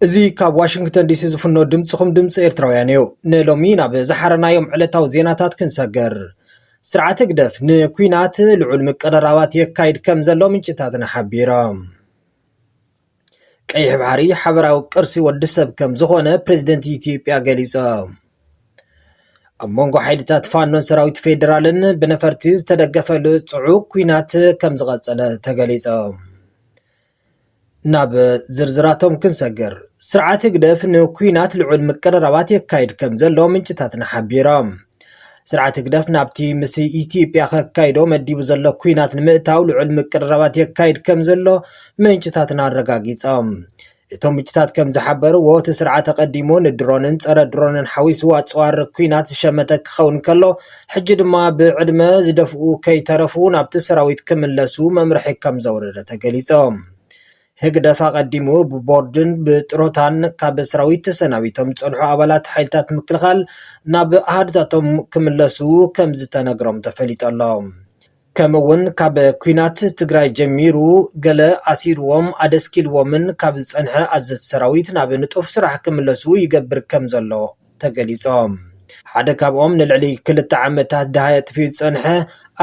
እዚ ካብ ዋሽንግተን ዲሲ ዝፍኖ ድምፅኹም ድምፂ ኤርትራውያን እዩ። ንሎሚ ናብ ዝሓረናዮም ዕለታዊ ዜናታት ክንሰግር። ስርዓት ህግደፍ ንኲናት ልዑል ምቅርራባት የካይድ ከም ዘሎ ምንጭታትና ሓቢሮም። ቀይሕ ባሕሪ ሓበራዊ ቅርሲ ወዲ ሰብ ከም ዝኾነ ፕሬዝደንት ኢትዮጵያ ገሊፆም። ኣብ መንጎ ሓይልታት ፋኖን ሰራዊት ፌዴራልን ብነፈርቲ ዝተደገፈ ጽዑቕ ኲናት ከም ዝቐጸለ ተገሊጾም ናብ ዝርዝራቶም ክንሰግር፣ ስርዓት ህግደፍ ንኲናት ልዑል ምቅርራባት የካይድ ከም ዘሎ ምንጭታትና ሓቢሮም። ስርዓት ህግደፍ ናብቲ ምስ ኢትዮጵያ ከካይዶ መዲቡ ዘሎ ኲናት ንምእታው ልዑል ምቅርራባት የካይድ ከም ዘሎ ምንጭታትና ኣረጋጊጾም። እቶም ምንጭታት ከም ዝሓበርዎ እቲ ስርዓት ኣቐዲሙ ንድሮንን ጸረ ድሮንን ሓዊሱ ኣጽዋር ኲናት ዝሸመተ ክኸውን ከሎ ሕጂ ድማ ብዕድመ ዝደፍኡ ከይተረፉ ናብቲ ሰራዊት ክምለሱ መምርሒ ከምዘውረደ ተገሊጾም። ህግደፍ ኣቐዲሙ ብቦርድን ብጥሮታን ካብ ሰራዊት ተሰናቢቶም ዝጸንሑ ኣባላት ሓይልታት ምክልኻል ናብ ኣሃዱታቶም ክምለሱ ከምዝተነግሮም ተፈሊጡ ኣሎ። ከምኡ እውን ካብ ኲናት ትግራይ ጀሚሩ ገለ ኣሲሩዎም ኣደስኪሉዎምን ካብ ዝፀንሐ ኣዘዝቲ ሰራዊት ናብ ንጡፍ ስራሕ ክምለሱ ይገብር ከምዘሎ ተገሊፆም። ሓደ ካብኦም ንልዕሊ ክልተ ዓመታት ደሃይ ኣጥፊኡ ዝፀንሐ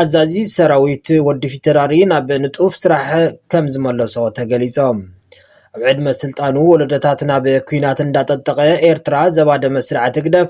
ኣዛዚ ሰራዊት ወዲ ፊተራሪ ናብ ንጡፍ ስራሕ ከምዝመለሶ ተገሊፆም። ኣብ ዕድመ ስልጣኑ ወለዶታት ናብ ኲናት እንዳጠጠቐ ኤርትራ ዘባደመ ስርዓት ህግደፍ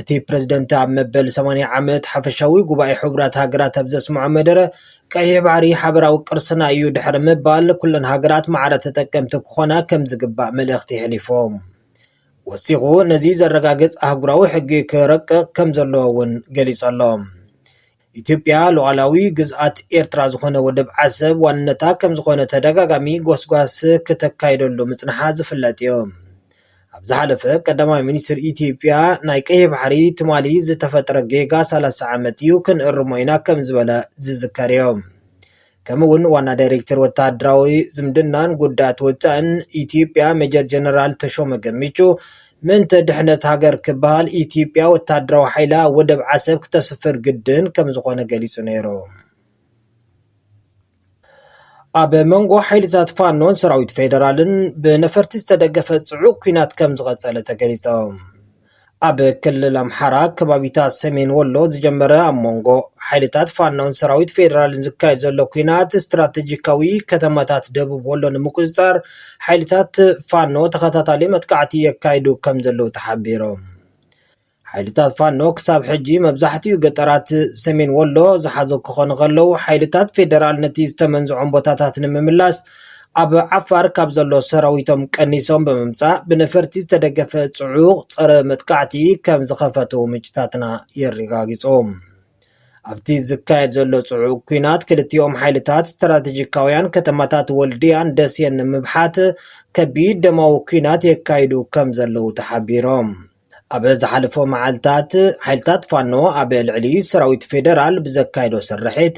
እቲ ፕረዚደንት ኣብ መበል ሰማንያ ዓመት ሓፈሻዊ ጉባኤ ሕቡራት ሃገራት ኣብ ዘስምዖ መደረ፣ ቀይሕ ባሕሪ ሓበራዊ ቅርስና እዩ ድሕሪ ምባል፣ ኩለን ሃገራት ማዕረ ተጠቀምቲ ክኾና ከም ዝግባእ መልእኽቲ የሕሊፉ። ወሲኹ ነዚ ዘረጋግጽ ኣህጉራዊ ሕጊ ክረቅቕ ከም ዘለዎ'ውን ገሊጹ ኣሎ። ኢትዮጵያ ሉኣላዊ ግዝኣት ኤርትራ ዝኾነ ወደብ ዓሰብ ዋንነታ ከምዝኾነ ተደጋጋሚ ጎስጓስ ክተካይደሉ ምጽንሓ ዝፍለጥዮ። ኣብ ዝሓለፈ ቀዳማይ ሚኒስትር ኢትዮጵያ ናይ ቀይሕ ባሕሪ ትማሊ ዝተፈጥረ ጌጋ ሰላሳ ዓመት እዩ ክንእርሞ ኢና ከምዝበለ ዝዝከርዮ። ከምኡ እውን ዋና ዳይሬክተር ወተሃደራዊ ዝምድናን ጉዳያት ወፃኢን ኢትዮጵያ ሜጀር ጀነራል ተሾመ ገሚቹ ምእንተ ድሕነት ሃገር ክበሃል ኢትዮጵያ ወተሃደራዊ ሓይላ ኣብ ወደብ ዓሰብ ክተስፍር ግድን ከምዝኾነ ገሊፁ ነይሩ። ኣብ መንጎ ሓይልታት ፋኖን ሰራዊት ፌደራልን ብነፈርቲ ዝተደገፈ ፅዑቕ ኲናት ከምዝቐፀለ ተገሊፆም። ኣብ ክልል ኣምሓራ ከባቢታት ሰሜን ወሎ ዝጀመረ ኣብ መንጎ ሓይልታት ፋኖን ሰራዊት ፌዴራልን ዝካየድ ዘሎ ኩናት ስትራቴጂካዊ ከተማታት ደቡብ ወሎ ንምቁፅፃር ሓይልታት ፋኖ ተኸታታሊ መጥቃዕቲ የካይዱ ከም ዘለዉ ተሓቢሮም። ሓይልታት ፋኖ ክሳብ ሕጂ መብዛሕትኡ ገጠራት ሰሜን ወሎ ዝሓዞ ክኾኑ ከለዉ ሓይልታት ፌደራል ነቲ ዝተመንዝዖም ቦታታት ንምምላስ ኣብ ዓፋር ካብ ዘሎ ሰራዊቶም ቀኒሶም ብምምፃእ ብነፈርቲ ዝተደገፈ ፅዑቕ ፀረ መጥቃዕቲ ከም ዝኸፈቱ ምንጭታትና የረጋግፁ። ኣብቲ ዝካየድ ዘሎ ፅዑቕ ኩናት ክልቲኦም ሓይልታት ስትራቴጂካውያን ከተማታት ወልድያን ደሴን ንምብሓት ከቢድ ደማዊ ኩናት የካይዱ ከም ዘለዉ ተሓቢሮም። ኣብ ዝሓለፈ መዓልታት ሓይልታት ፋኖ ኣብ ልዕሊ ሰራዊት ፌደራል ብዘካየዶ ስርሒት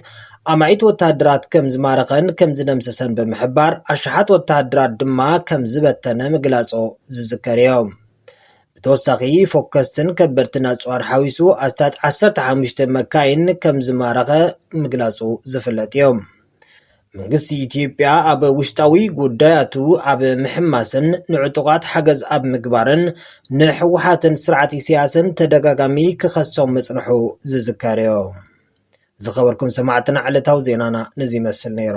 ኣማኢት ወተሃደራት ከም ዝማረኸን ከም ዝደምሰሰን ብምሕባር ኣሽሓት ወተሃደራት ድማ ከም ዝበተነ ምግላጾ ዝዝከር እዩ። ብተወሳኺ ፎከስትን ከበድትን ኣጽዋር ሓዊሱ ኣስታት 15 መካይን ከም ዝማረኸ ምግላጹ ዝፍለጥ እዩ። መንግስቲ ኢትዮጵያ ኣብ ውሽጣዊ ጉዳያቱ ኣብ ምሕማስን ንዕጡቓት ሓገዝ ኣብ ምግባርን ንሕወሓትን ስርዓት ኢሳያስን ተደጋጋሚ ክኸሶም ምጽንሑ ዝዝከር እዩ። ዝኸበርኩም ሰማዕትና ዕለታዊ ዜናና ነዚ ይመስል ነይሩ።